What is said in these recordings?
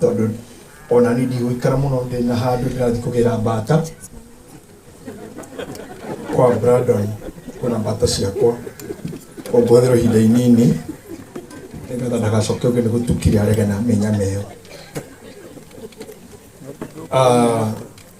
tondå ona nä ndigå ikara må no ndä na handå ndä rathiä kå gä ra mbata kwa Brandon kuna mbata ciakwa ũngũthĩrwo ihinda inini nĩgetha ndagacoke ũngĩ nĩ gũtukire arege na mĩnyameo Ah,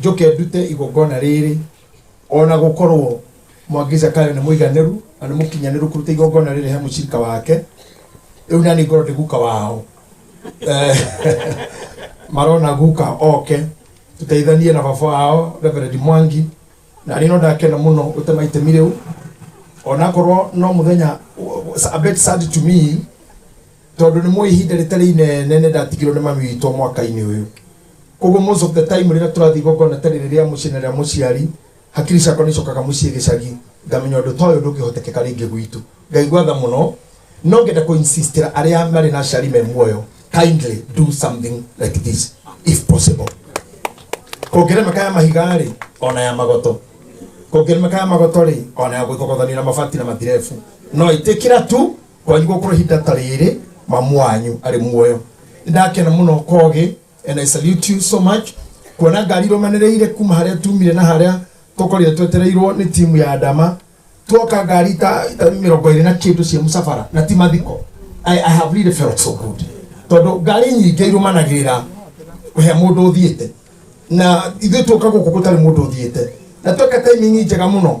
njoke ndute igongona rĩrĩ o na gũkorwo mwangi zakayo nĩ mũiganĩru na nĩ mũkinyanĩru kũruta igongona rĩrĩ he mũcirika wake rĩu na nĩ ngorwo ndĩ guka wao Eh, marona guka oke tũteithanie na baba wao reverend mwangi na rĩno ndakena mũno gũtema itemi rĩu onakorwo no mũthenya a bit sad to me Tondũ nĩ mũĩ ihinda rĩtarĩ inene nĩ ndatigirwo nĩ mami witũ mwaka-inĩ ũyũ. Kwoguo most of the time rĩrĩa tũrathiĩ igongona ta rĩrĩ rĩa mũciĩ na rĩa mũciari, hakiri ciakwa nĩ icokaga mũciĩ gĩcagi, ngamenya ũndũ ta ũyũ ndũngĩhotekeka rĩngĩ gwitũ. Ngai ngwatha mũno, no ngenda kũ insist-ĩra arĩa marĩ na aciari me muoyo, kindly do something like this if possible. Kũngĩremeka ya mahiga-rĩ, o na ya magoto. Kũngĩremeka ya magoto-rĩ, o na ya gũthogothanio na mabati na matirebu. No ĩtĩkĩra tu Kwanyu gũkorwo ihinda ta rĩrĩ mamu wanyu arĩ muoyo. Nĩndakena mũno Kogi and I salute you so much kuona ngari irũmanĩrĩire kuma harĩa tumire na harĩa tũkorire twetereirwo nĩ timu ya Adama tuoka ngari ta ta mĩrongo ĩrĩ na kĩndũ cia mũcabara na ti mathiko. I, I have really felt so good tondũ ngari nyingĩ irũmanagĩrĩra he mũndũ ũthiĩte na ithuĩ tuoka gũkũ gũtarĩ mũndũ ũthiĩte na tweka timing njega mũno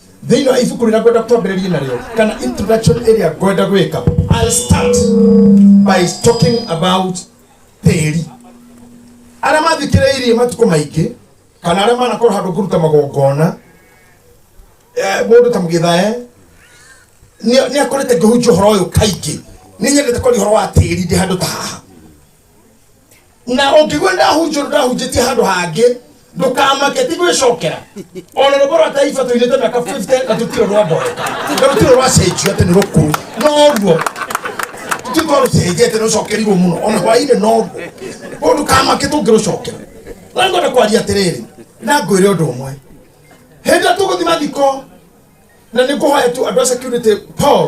thĩinĩ wa ibuku rĩrĩa ngwenda twambĩrĩrie narĩo kana introduction ĩrĩa ngwenda gwĩka I'll start by talking about tĩri arĩa mathikĩrĩirie matukũ maingĩ kana arĩa manakorwo handũ kũruta magongona eh, mũndũ ta mũgĩthae nĩ akorĩte ngĩhunjia ũhoro ũyũ kaingĩ nĩ nyendete kwaria ũhoro wa tĩri ndĩ handũ ta haha na ũngĩgua ndahunjũrwo ndahunjĩtie handũ hangĩ ndũkamake ti gwĩcokera ona rũmbo rwa taiba tũinĩte mĩaka 50 na tũtirĩ rwamboreka na rũtirĩ rwacenjio atĩ nĩ rũkũũ noruo tũtirĩ rũcenjia atĩ rũcokerirwo mũno ona hwainĩ noruo koguo ndũkamake tũngĩrũcokera na ngwenda kwaria atĩrĩrĩ na ngwĩre ũndũ ũmwe hĩndĩ ĩrĩa tũgũthima thiko na nĩ ngũhoya tu andũ a security paul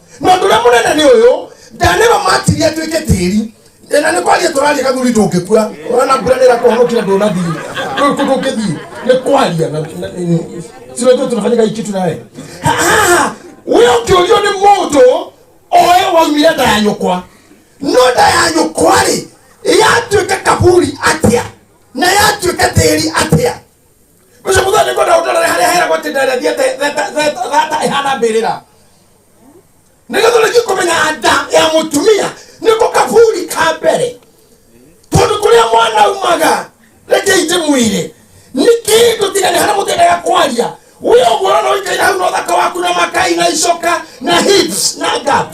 na ũndũ ũrĩa mũnene nĩ ũyũ ndanĩro matirie atuĩke tĩri Ĩ, na nĩ kwaria tũraria gathuri ndũngĩkua ona mbura nĩ ĩrakũhonokia ndũnathiĩ Ndũ- ndũ- ndũngĩthiĩ nĩ kwaria na- na- na- sinajua tunafanyika hii kitu naye Ha- ha, we ũkĩũrio nĩ mũndũ oe waumire nda ya nyũkwa no nda ya nyũkwa rĩ yatuĩka kaburi atĩa na yatuĩka tĩri atĩa ucio muthu ni ngwenda utorere haria heragwo ati ndere thiete thata ihana mbirira nigetha urĩkie kũmenya nda ya mũtumia nĩko kaburi ka mbere tondũ kũrĩa mwana umaga reke ite mwĩrĩ nĩ kĩndũ tiga nĩ harĩa mũtendaga kwaria wĩ ũguo ũrona ũikaire hau na ũthaka waku na makai na icoka na hips na gap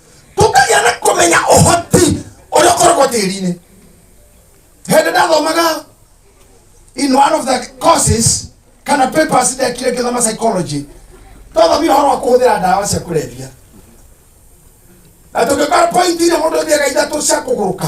tũkagĩa na kũmenya ũhoti ũrĩa ũkoragwo tĩri-inĩ hĩndĩ ndathomaga in one of the courses kana papers ndekire ngĩthoma psychology twathomire ũhoro wa kũhũthĩra ndawa cia kũrebia na tũgĩkora point iria mũndũ thiaga ithatũ cia kũgũrũka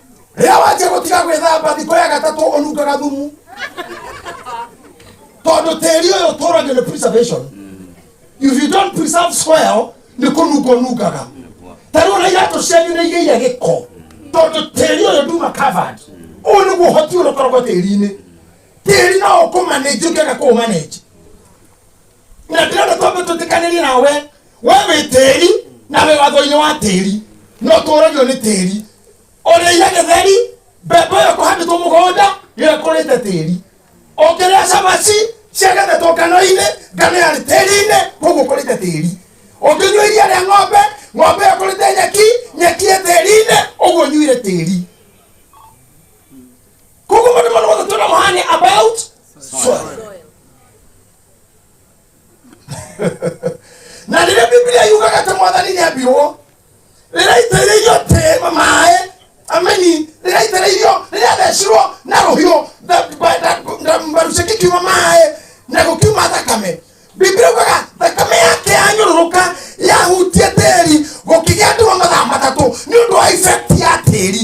rĩrĩa wanjia gũtiga gwĩthamba thikũ ya gatatũ ũnungaga thumu tondũ tĩri ũyũ ũtũragio nĩ preservation if you don't preserve soil nĩ kũnunga ũnungaga tarĩu ona iratũ cianyu nĩ igĩire gĩko tondũ tĩri ũyũ nduma covered ũyũ nĩguo ũhoti ũrĩa ũkoragwo tĩri-inĩ tĩri no ũkũmanenji ũngĩaga kũũmanenji na ndĩrenda twambe twĩtĩkanĩrie nawe we wĩ tĩri na wĩ watho-inĩ wa tĩri no tũũragio nĩ tĩri ũrĩire gĩtheri mbembe ĩyo kũhandĩtwo mũgũnda ĩrakũrĩte tĩri ũkĩrĩa cabaci ciagethetwo ngano-inĩ ngano yarĩ tĩri-inĩ koguo kũrĩte tĩri ũkĩnyua iria rĩa ng'ombe ng'ombe ĩyo kũrĩte nyeki nyeki ĩ tĩri-inĩ ũguo nyuire tĩri koguo maũndũ mothe mothe tũna mũhane about soil na rĩrĩa bibilia yugaga atĩ mwathani nĩ ambirwo rĩrĩa aitĩrĩirio tĩma maĩ ameni rĩrĩa aitĩrĩirio rĩrĩa athecirwo na rũhiũ na- ba- na- na mbaru ciake ikiuma maĩ na gũkiuma thakame bibilia yugaga thakame yake yanyũrũrũka yahutia tĩri gũkĩgĩa nduma mathaa matatũ nĩ ũndũ wa ifekti ya tĩri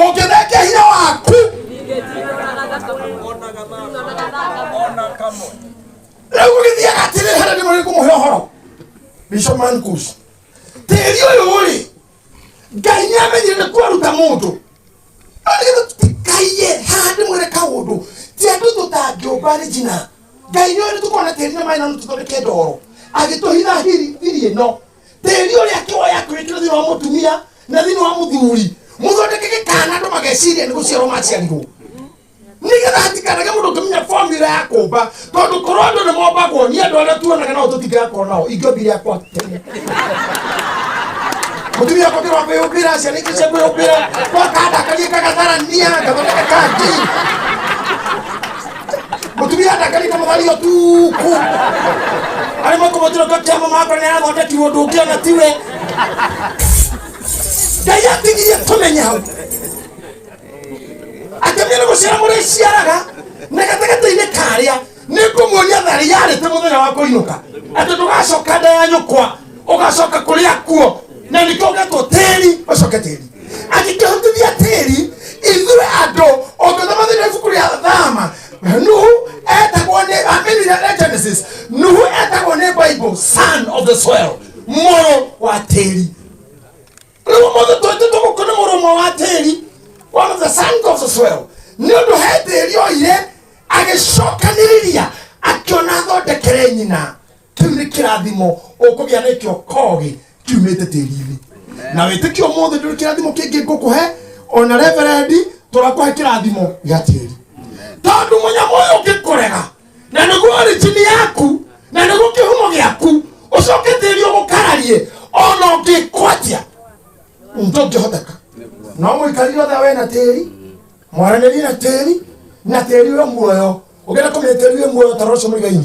ũngĩthenge hinya waku rĩu gũgĩthiaga atĩrĩ harĩa nĩ mũrĩ kũmũhe ũhoro bishop mankus tĩri ũyũ rĩ ngai nĩ amenyire nĩ kwaruta mũndũ tikaiye haha nĩ mwĩre kaũndũ ti andũ tũtangĩũmba rĩ njina ngai nĩ ũrĩ tũkona tĩri na maĩ na nũ tũthondeke ndoro agĩtũhitha hiri hiri ĩno tĩri ũrĩa akĩwoya akĩwĩkĩra thĩinĩ wa mũtumia na thĩinĩ wa mũthuri mũthondeke gĩkana andũ mageciria nĩ gũciarwo maciarirwo nĩgetha hatikanage mũndũ ũkĩmenya formula ya kũmba tondũ korwo andũ nĩ mombagwo nĩ andũ arĩa tuonaga nao tũtingakorwo nao ingĩobi rĩakwa tene mũtumia akwa kĩrwa kwĩyũmbĩra ciana ingĩ cia kwĩyũmbĩra gwakandakarie kagatarania ngathondeka kangi mutumia ndakarite muthario tuku ari makumutiro kakiama makwa ni athondetirwo ndungiona tiwe ngai atigirie tumenye hau atumia ni guciara muriciaraga na gatagatainĩ karĩa nĩ ngũmuonia tharĩ yarĩte mũthenya wa kũinũka atĩ ndũgacoka nda ya nyũkwa ugacoka kuria kuo na nikio getwo tiri ucoke tiri angikihutithia tiri ithuĩ andũ ũngĩthomagĩra ibuku rĩa thama nuhu etagwo nĩ amini rĩa genesis nuhu etagwo nĩ bible son of the soil mũrũ wa tĩri rĩu mũndũ twĩtĩ tũgũkũ nĩ mũrũ ũmwe wa tĩri one of the sons of the soil nĩ ũndũ he tĩri oire agĩcokanĩrĩria akĩona athondekere nyina kĩu nĩ kĩrathimo ũkũgĩa nakĩo kogĩ kiumĩte tĩri-inĩ na wĩtĩkio mũthĩ ndũrĩ kĩrathimo kĩngĩ ngũkũhe ona reverendi tũrakũhe kĩrathimo gĩa tĩri tondũ mũnyamũ ũyũ ũngĩkũrega na nĩguo origini yaku na nĩguo kĩhumo gĩaku ũcoke tĩri ũgũkararie ona ũngĩkwanjia ndũngĩhoteka no mũikarire othe we na tĩri mwaranĩrie na tĩri na tĩri we muoyo ũngĩenda kũmenya tĩri we muoyo tara ũcio mũigainĩ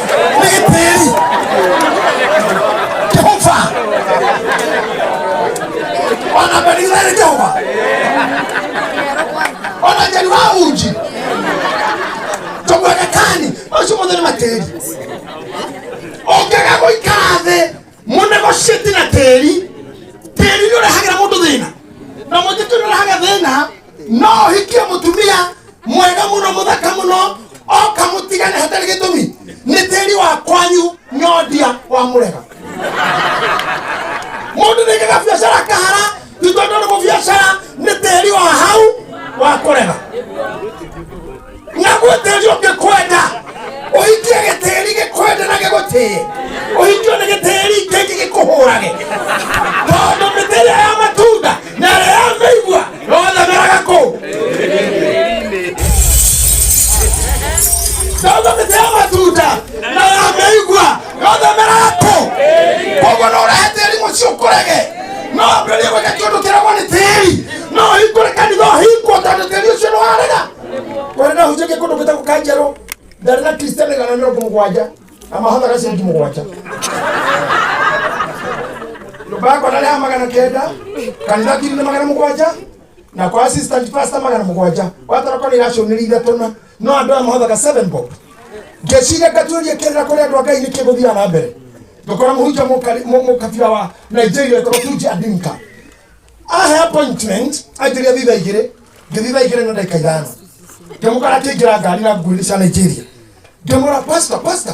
Nĩgĩtĩri. Jehova. Ona Benigere Jehova. Ona Njeri wa Unji. Tũmwendekani. Ũcio mũthĩ nĩ matĩri. Ũngĩaga gũikara thĩ mũnegotiate na tĩri tĩri nĩ ũrehagĩra mũndũ thĩna na mũtitũ nĩ ũrehaga thĩna no ũhikie mũtumia mwega mũno mũthaka mũno oka mũtigane hatarĩ gĩtũmi nĩ tĩri wa kwanyu nyondia wa mũrega mũndũ nĩkaga biacara kahara ithuĩ tondũ mũbiacara nĩ tĩri wa hau wa kũrega naguo tĩri ũngĩkwenda ũhikie gĩtĩri gĩkwende na gĩgũtĩe ũhikio nĩ gĩtĩri kĩngĩ gĩkũhũrage tondũ mĩtĩ ĩrĩa ya matunda na ĩrĩa ya mĩigua yothe meraga kũu tondũ mĩtĩ ya matunda na ya mĩigua nothemera yaku koguo no ũrehe tĩri mũciĩ ũkũrege no ambĩrĩrie gwĩka kĩndũ kĩragwo nĩ tĩri no hingũre kanitha ũhingwo tondũ tĩri ũcio nĩwarega kũrĩ na hujĩke kũndũ gwĩtagwo kanjerũ ndarĩ na kristian igana mĩrongo mũgwanja na mahothaga ciringi mũgwanja nyũmba yakwa narĩ ya magana kenda kanitha kiri na magana mũgwanja na kwa assistant pastor magana mũgwanja watara kwana iracũnĩrĩ ithatũ na no andå aya mahothaga seven bob ngeciria ngatuĩria kĩrĩra kũrĩa andũ a ngai nĩ kĩgũthiaga na mbere ngakora mũhunjia mũkari- mũ- mũkabira wa nigeria ĩkorwo tunji adinka ahe appointment anjĩria thitha igĩrĩ ngĩthitha igĩrĩ na ndagĩka ithano ngĩmũkora akĩingĩra ngari na nguĩrĩ cia nigeria ngĩmũra pasta pasta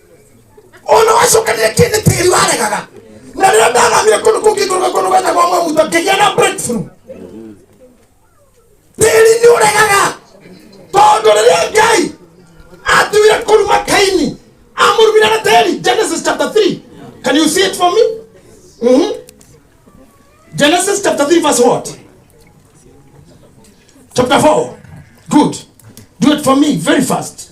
ona wacokanire kĩndĩ tĩri waregaga na rĩrĩa ndathamire kũndũ kũngĩ kũrũga kũndũ gwetagwo mwaguta ngĩgĩa na breakthrough tĩri nĩ ũregaga tondũ rĩrĩa ngai atuire kũruma kaini amũrumire na tĩri genesis chapter 3 can you see it for me mm -hmm. genesis chapter 3 verse what chapter 4 good do it for me very fast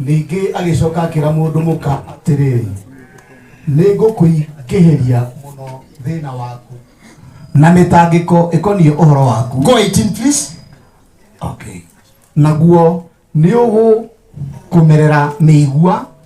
Ningĩ agĩcoka akĩra mũndũ mũka atĩrĩrĩ, nĩ ngũkũingĩhĩria mũno thĩna waku na mĩtangĩko ĩkoniĩ ũhoro waku. Go 18 please. Okay. Naguo nĩ ũgũkũmerera mĩigua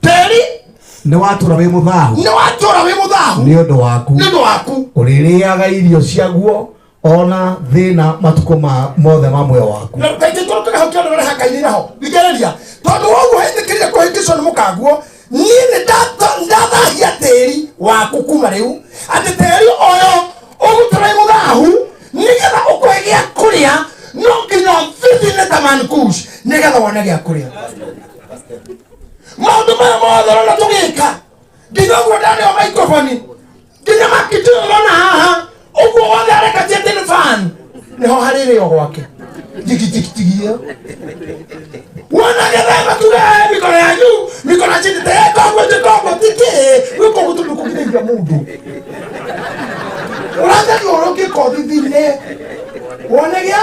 teri nĩ watũra wĩ mũthahu nĩ watũra wĩ mũthahu nĩ ũndũ waku nĩ ũndũ waku ũrĩrĩaga irio ciaguo ona thĩna matukũ ma mothe ma muoyo waku na kaingĩ tondũ kĩrĩho kĩothe ũreha ngai iraho thikĩrĩria tondũ woguo hĩtĩkĩria kũhĩngĩcwo nĩ mũkanguo niĩ nĩ ndata- ndathahia tĩri waku kuma rĩu atĩ tĩri ũyũ ũgũtũra wĩ mũthahu nĩgetha ũkũhe gĩa kũrĩa no nginya bithi nĩ tamankush nĩgetha wone gĩa kũrĩa maundu maya mothe rona tugika nginya uguo ndari o microphone nginya makitio rona haha uguo wothe areka jetin fan niho hariri o gwake jigijigijigi iyo wona gethemba tuge mikono yanyu mikono chini tekongo jikongo tiki gwiko gutundu kugitithia mundu urathiũrũkĩka ũthithine wone gĩa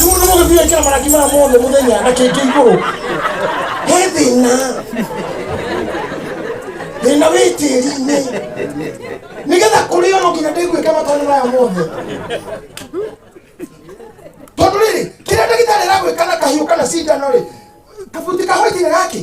Rĩu nĩ mũgĩthiĩ kĩra marangi maya mothe mũthenya na kĩngĩ igũrũ he thĩna thĩna wĩ tĩri-inĩ nĩgetha kũrĩa no nginya ndĩguĩke matone maya mothe tondũ rĩrĩ kĩrĩa ndagĩtarĩ aragwĩka na kahiũ kana cindano rĩ kabuti kahoitire gakĩ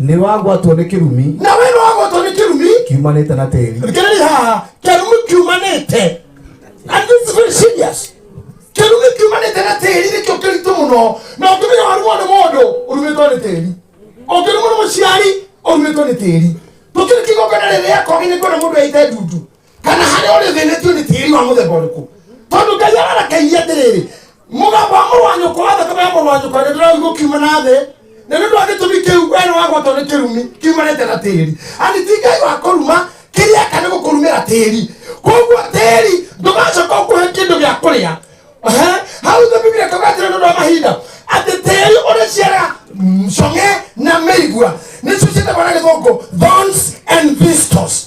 Nĩ wagwatwo nĩ kĩrumi nawe nĩ wagwatwo nĩ kĩrumi kiumanĩte na tĩri. Thikĩrĩria haha, kĩrumi kiumanĩte and this is very serious. Kĩrumi kiumanĩte na tĩri nĩkĩo kĩritũ mũno, na ũngĩmenya warumwo nĩ mũndũ ũrumĩtwo nĩ tĩri, ũngĩrumwo nĩ mũciari ũrumĩtwo nĩ tĩri. Tũkĩrĩ kĩgongona rĩrĩ rĩa kogi nĩ kuona mũndũ aite ndutu, kana harĩa ũrĩ thĩnĩtio nĩ tĩri wa mũthemba ũrĩkũ tondũ ngai ararakairie atĩrĩrĩ mũgambo wa mũrũ wa nyũkwa wa thakame ya mũrũ wa nyũkwa nĩ ndĩraigua kiuma na thĩ na nĩ ũndũ wa gĩtũmi kĩu we nĩ wagwatwo nĩ kĩrumi kiumanĩte na tĩri ani ti ngai wa kũruma kĩrĩa eka nĩ gũkũrumĩra tĩri koguo tĩri ndũgacoka ũkũhe kĩndũ gĩa kũrĩa Ehe, hau thĩ biblia kauga atĩrĩ nĩ ũndũ wa mahinda atĩ tĩri ũrĩciara cong'e na mĩigua nĩcio ciĩtagwo na gĩthũngũ thorns and thistles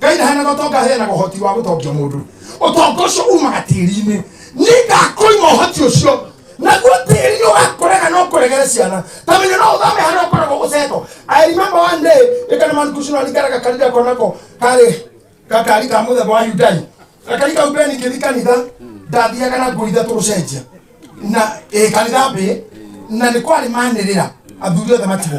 ngai ndaheanaga ũtonga aheanaga ũhoti wa gũtongia mũndũ ũtonga ũcio umaga tĩri-inĩ nĩngakũima ũhoti ũcio naguo tĩri ũgakũrega no kũregere ciana ta menye no ũthame harĩa ũkoragwo gũcetwo i remember one day ĩkana mankucino aringaraga kanitha konako karĩ gakari ka mũthemba wa yundai gakari kau mbere ningĩthi kanitha ndathiaga na ngũi ithatũ gũcenjia na ĩ kanitha mbĩ na nĩ kwarĩ manĩrĩra athuri othe matigwo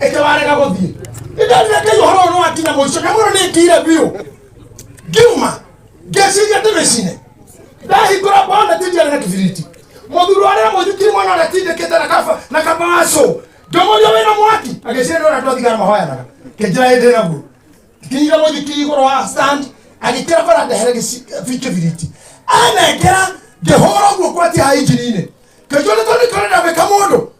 ĩte warega gũthiĩ nĩndonire ngai ũhoro ũyũ nĩwakinya mũico na mũno nĩngĩire biũ ngiuma ngeciria ndĩmĩcine ndahingũra bwana tindiarĩ na kĩbiriti mũthuri warĩa mũthikiri mwana ũrĩa tindĩkĩte na kaba na kaba wa cũ ngĩmũria wĩna mwaki agĩciria nĩ ũrĩa twathigara mahoyanaga kĩnjĩra hĩndĩ naguo kinyire mũthikiri igũrũ wa stand agĩkĩra bara ndehere gĩci- bi- kĩbiriti anengera ngĩhũra ũguo kwatia ha injini-inĩ kĩnjũrĩ tondũ tũrenda gwĩka mũndũ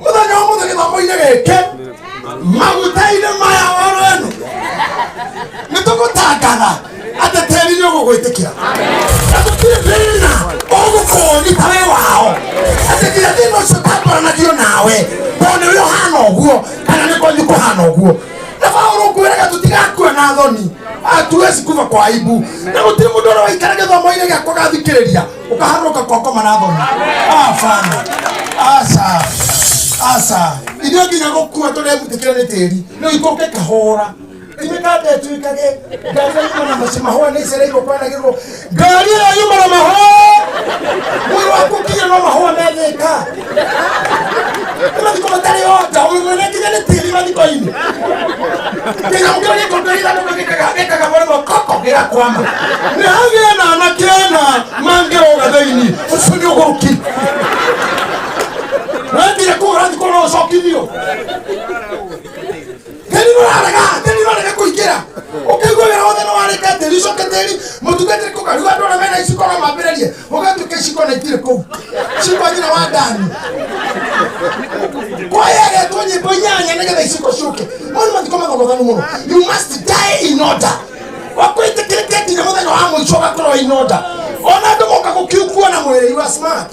muthenya wa muthenya githomo-inĩ gĩkĩ maguta-inĩ maya oro eno nĩ tũgũtangatha atĩ tĩri nĩ ũgũgwĩtĩkĩra na gũtirĩ thĩna ũgũkũnyita wĩ wao atĩ nginya thĩna ũcio ũtangũranagio nawe tondũ nĩ ũrĩ ũhana ũguo kana nĩ kwanyu kũhana ũguo na baũrũ ngwĩraga tũtigakua na thoni atuwe cikuva kwa aibu na gũtirĩ mũndũ ũrĩa waikara gĩthomo-inĩ gĩakwa gathikĩrĩria ukaharuka koko manabona afana asa asa ithuĩ nginya gũkua tũrebutĩkĩra nĩ tĩri rĩu ikũke kahũra ithuĩ kambia tuĩkage ngari ĩyo yuma na maci mahũa nĩ icereirwo kwanagĩrwo ngari ĩyo yuma na mahũa mwĩrĩ waku nginya no mahũa methĩka ũratikomatari ota ũmwene nginya nĩ tĩri mathiko-inĩ nginya ũngĩ ũrĩ kũndũ ira nĩ gĩkaga gĩkaga gore gokoko gĩgakwama nĩ hagĩa na anake ana mangĩroga thĩinĩ ũcio nĩ ũgũrũki wendire kũgũra thikũ no ũcokithio tĩri nũrarega tĩri nũrarega kũingĩra ũkĩigua wĩra wothe nĩwarĩka tĩri ũcoke tĩri mũtungatĩri kũka rĩu andũ arĩa mena iciko no mambĩrĩrie ũgatuĩka iciko na itirĩ kũu ciko nyina wa ndani kwayagetwo nyĩmbo inyanya nĩgetha iciko ciũke mau nĩ mathiko mathogothanu mũno you must die in order wakwĩtĩkĩrĩke nginya mũthenya wa mũico ũgakorwo in order ona andũ moka gũkiukua na mwĩrĩ you are smart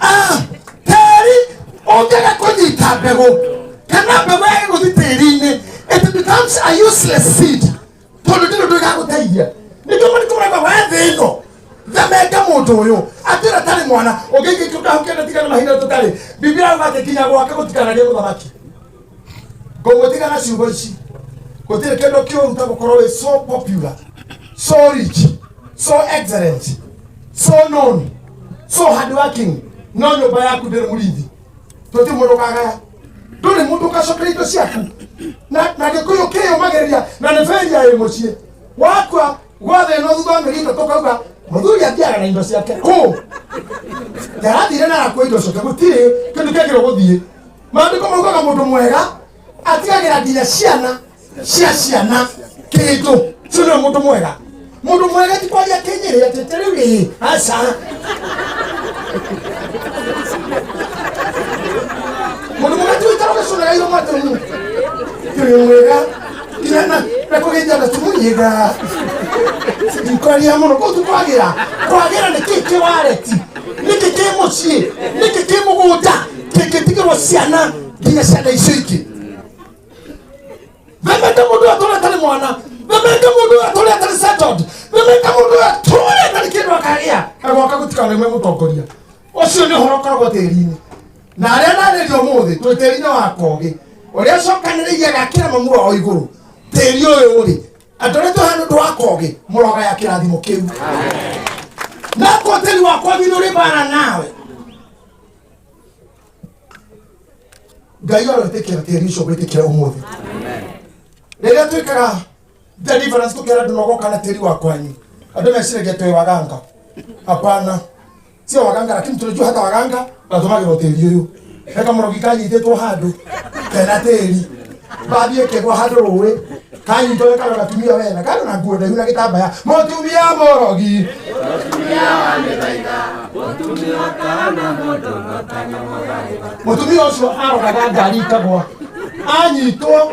Ah, tĩri ũngĩga kũnyita mbegũ kana mbegũ yage gũthi tĩri-inĩ it becomes a useless seed tondũ ndĩrĩ ũndũ ĩgagũteithia nĩkĩo mũndũ kũmũrema we thĩ ĩno themenge mũndũ ũyũ atĩra tarĩ mwana ũngĩngĩkĩũkahũkĩenda tigana mahinda tũtarĩ biblia yauga atĩ kinya gwake gũtikanagĩa mũthamaki ngũgũtiga na ciugo ici gũtirĩ kĩndũ kĩũru ta gũkorwo wĩ so popular so rich so excellent so known so hardworking no nyũmba yaku ndĩrĩ mũrithi tũti mũndũ kagaya ndũrĩ mũndũ ũgacokera indo ciaku na na gĩkũyũ kĩyũmagĩrĩria na nĩ bendia ĩ mũciĩ wakua gwathe ĩno thutha wa mĩeri itatũ kauga mũthuri athiaga na indo ciake kũ yarathire na arakua indo ciake gũtirĩ kĩndũ kĩagĩrwo gũthiĩ maandĩko maugaga mũndũ mwega atigagĩra nginya ciana cia ciana kĩndũ ũcio nĩwe mũndũ mwega mũndũ mwega ti kwaria kĩnyĩrĩ atĩ ta rĩu rĩĩ aca mũndũ mwega ti ũikara ũgĩcũnaga irio mwatĩ mu kĩrĩ mwega nginya na na kũgĩnja na tumunyĩga ndikwaria mũno kũu tukwagĩra kwagĩra nĩkĩ kĩ wareti nĩkĩ kĩ mũciĩ nĩkĩ kĩ mũgũnda teketika mo siana nginya ciana icio ingĩ vemete mũndũ ũyũ atũre atarĩ mwana vemete mũndũ ũyũ atũre atarĩ settled vemete mũndũ ũyũ atũre atarĩ kĩndũ akagĩa agwaka gũtikaneme mũtongoria ũcio nĩ ũhoro ũkoragwo tĩri-inĩ na arĩa narĩria ũmũthĩ twĩ tĩri-inĩ wa kogĩ ũrĩa cokanĩrĩirie agakĩra mamura o igũrũ tĩri ũyũ rĩ andũ arĩa tũhana ũndũ wa kogĩ mũrogaya kĩrathimo kĩu nako tĩri wakwa githĩ ũrĩ bara nawe ngai arotĩkĩra tĩri ũcio gwĩtĩkĩra ũmũthĩ rĩrĩa twĩkaga deliverance tũkĩra andũ nogoka na tĩri wa kwanyu andũ meciragia twĩ waganga hapana sio waganga lakini tunajua hata waganga natũmagĩrwo tĩri ũyũ eka mũrogi kanyitĩtwo handũ kena tĩri mbathi ĩkĩgwa handũ rũĩ kanyitore kano gatumia wena kano na nguo ndaihu na gĩtambaya mũtumia mũrogi mũtumia ũcio arogaga ngari ikagwa anyitwo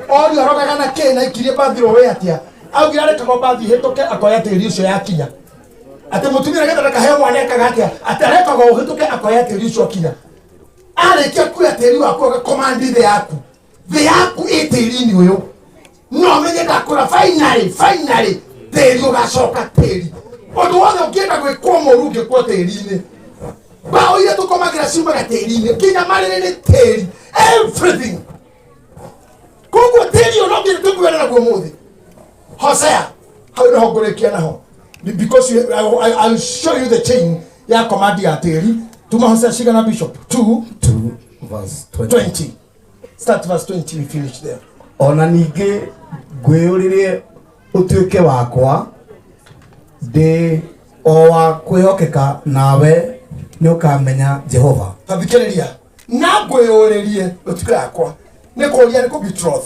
orio arogaga na kĩ na ikirie mbathi rũĩ atĩa augire arekagwo mbathi hĩtũke akoya tĩri ũcio yakinya atĩ mũtumia nĩgetha ndakaheo mwana ekaga atĩa atĩ arekagwo ũhĩtũke akoya tĩri ũcio akinya arĩkia kuoya tĩri waku agakomandi thĩ yaku thĩ yaku ĩ tĩri-inĩ ũyũ no menye ndakũra finally finally tĩri ũgacoka tĩri ũndũ wothe ũngĩenda gwĩkwo mũru ũngĩkwo tĩri-inĩ mbaũ iria tũkomagĩra ciumaga tĩri-inĩ nginya marĩrĩ nĩ tĩri everything koguo tĩri ũyũ no nginya tũkuere naguo mũthĩ hosea hau nĩho ngũrĩkia naho Be- because you, I, will- I, I will show you the chain ya komandi ya tĩri tuma hosea cigana bishop 2 2 verse 20. 20 Start verse 20, we finish there. o na ningĩ ngwĩyũrĩrie ũtuĩke wakwa ndĩ o wa kwĩhokeka nawe nĩ ũkamenya jehova Tathikĩrĩria. Na ngwĩyũrĩrie ũtuĩke yakwa. Nĩ kũũria nĩ kũ betroth.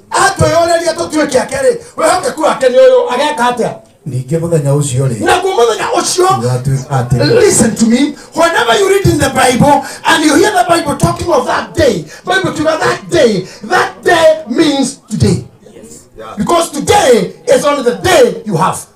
atwĩyũrĩria tũtuĩke ake rĩ wĩhokeku wake nĩ ũyũ ageka atĩa ningĩ mũthenya ũcio rĩ naguo mũthenya ũcio gatuĩka atĩ Listen to me. Whenever you read in the Bible and you hear the Bible talking of that day, Bible to that day, that day means today. Because today is only the day you have.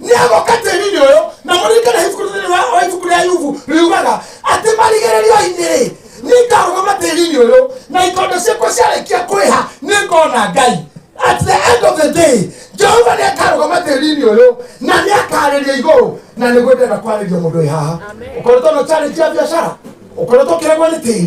nĩagokatĩri nĩ ũyũ na mũririkane ibuku thĩinĩ wa wa ibuku rĩa yubu riugaga atĩ marigĩrĩrio-inĩ rĩ nĩngarũgama tĩri-inĩ ũyũ na ikondo ciakwa ciarĩkia kwĩha nĩngona ngai at the end of the day jehova nĩakarũgama tĩri-inĩ ũyũ na nĩakarĩria igũrũ na nĩguo ndĩrenda kwarĩria mũndũ wĩ haha ũkoretwo na challenge ya biacara ũkoretwo ũkĩregwo nĩ tĩri